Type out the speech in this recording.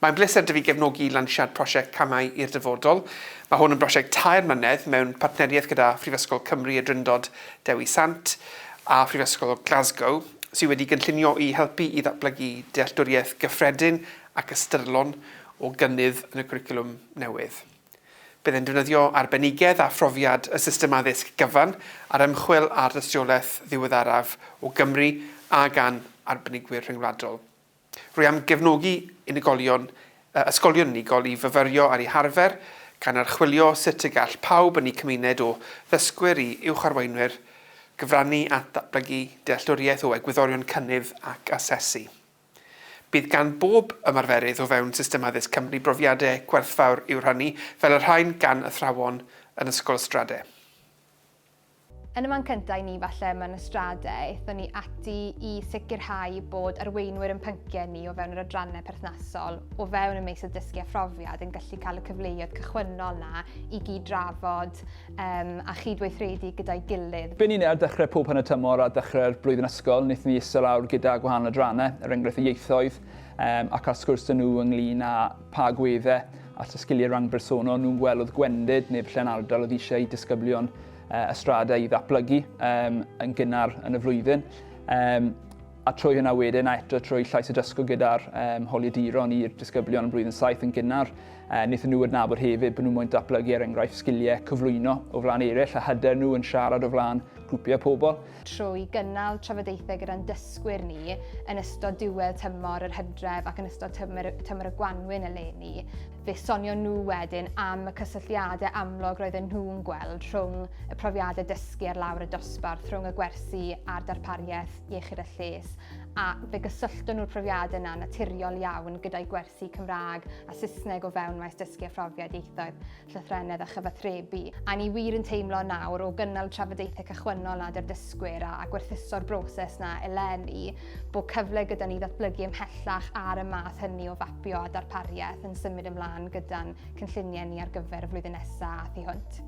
Mae'n bleser 'da fi gefnogi lansiad prosiect Camau i'r Dyfodol. Mae hwn yn brosiect tair mlynedd mewn partneriaeth gyda Phrifysgol Cymru y Drindod Dewi Sant a Phrifysgol Glasgow, sydd wedi gynllunio i helpu i ddatblygu dealltwriaeth gyffredin ac ystyrlon o gynnydd yn y cwricwlwm newydd. Bydd e'n defnyddio arbenigedd a phrofiad y system addysg gyfan ar ymchwil ar dystiolaeth ddiweddaraf o Gymru a gan arbenigwyr rhyngwladol. Rwy am gefnogi unigolion, ysgolion unigol i fyfyrio ar eu harfer, gan archwilio sut y gall pawb yn eu cymuned o ddysgwyr i uwcharweinwyr gyfrannu at ddatblygu dealltwriaeth o egwyddorion cynnydd ac asesu. Bydd gan bob ymarferydd o fewn system addysg Cymru brofiadau gwerthfawr i'w rhannu, fel y rhain gan athrawon yn Ysgol Ystrade. Yn y man cyntaf i ni falle mewn ystradau, aethon ni ati i sicrhau bod arweinwyr yn pynciau ni o fewn yr adrannau perthnasol o fewn y meysydd dysgu a phrofiad yn gallu cael y cyfleoedd cychwynnol na i gyd drafod um, a chydweithredu gyda'i gilydd. Byn ni ar dechrau pob hanner tymor a dechrau'r blwyddyn ysgol, wnaethon ni isel awr gyda gwahanol adrannau, er enghraifft y ieithoedd, um, ac ar sgwrs dyn nhw ynglyn â pa agweddau at y sgiliau rhan bersonol nhw'n gwelodd gwendid neu falle'n ardal oedd eisiau i disgyblion uh, ystrada i ddatblygu um, yn gynnar yn y flwyddyn. Um, a trwy hynna wedyn, a eto trwy llais y dysgwr gyda'r um, holiaduron i'r disgyblion yn blwyddyn saith yn gynnar, uh, wnaethon nhw adnabod hefyd bod nhw'n mwyn datblygu er enghraifft sgiliau cyflwyno o flaen eraill a hyder nhw yn siarad o flaen grwpiau pobl. trwy gynnal trafodaethau gyda'n dysgwyr ni yn ystod diwedd tymor yr hydref ac yn ystod tymor, tymor y gwanwyn eleni, fe sonio nhw wedyn am y cysylltiadau amlwg roedden nhw'n gweld rhwng y profiadau dysgu ar lawr y dosbarth, rhwng y gwersi a'r darpariaeth iechyd a lles, a fe gysyllton nhw'r profiadau yna naturiol iawn gyda'i gwersi Cymraeg a Saesneg o fewn maes dysgu a phrofiad ieithoedd. llythrennedd a chyfathrebu. A ni wir yn teimlo nawr, o gynnal trafodaethau cychwynnol nad yw'r dysgwyr a, a gwerthuso'r broses na eleni, bod cyfle gyda ni ddatblygu ymhellach ar y math hynny o fapio a darpariaeth yn symud ymlaen gyda'n cynlluniau ni ar gyfer y flwyddyn nesaf a thu hwnt.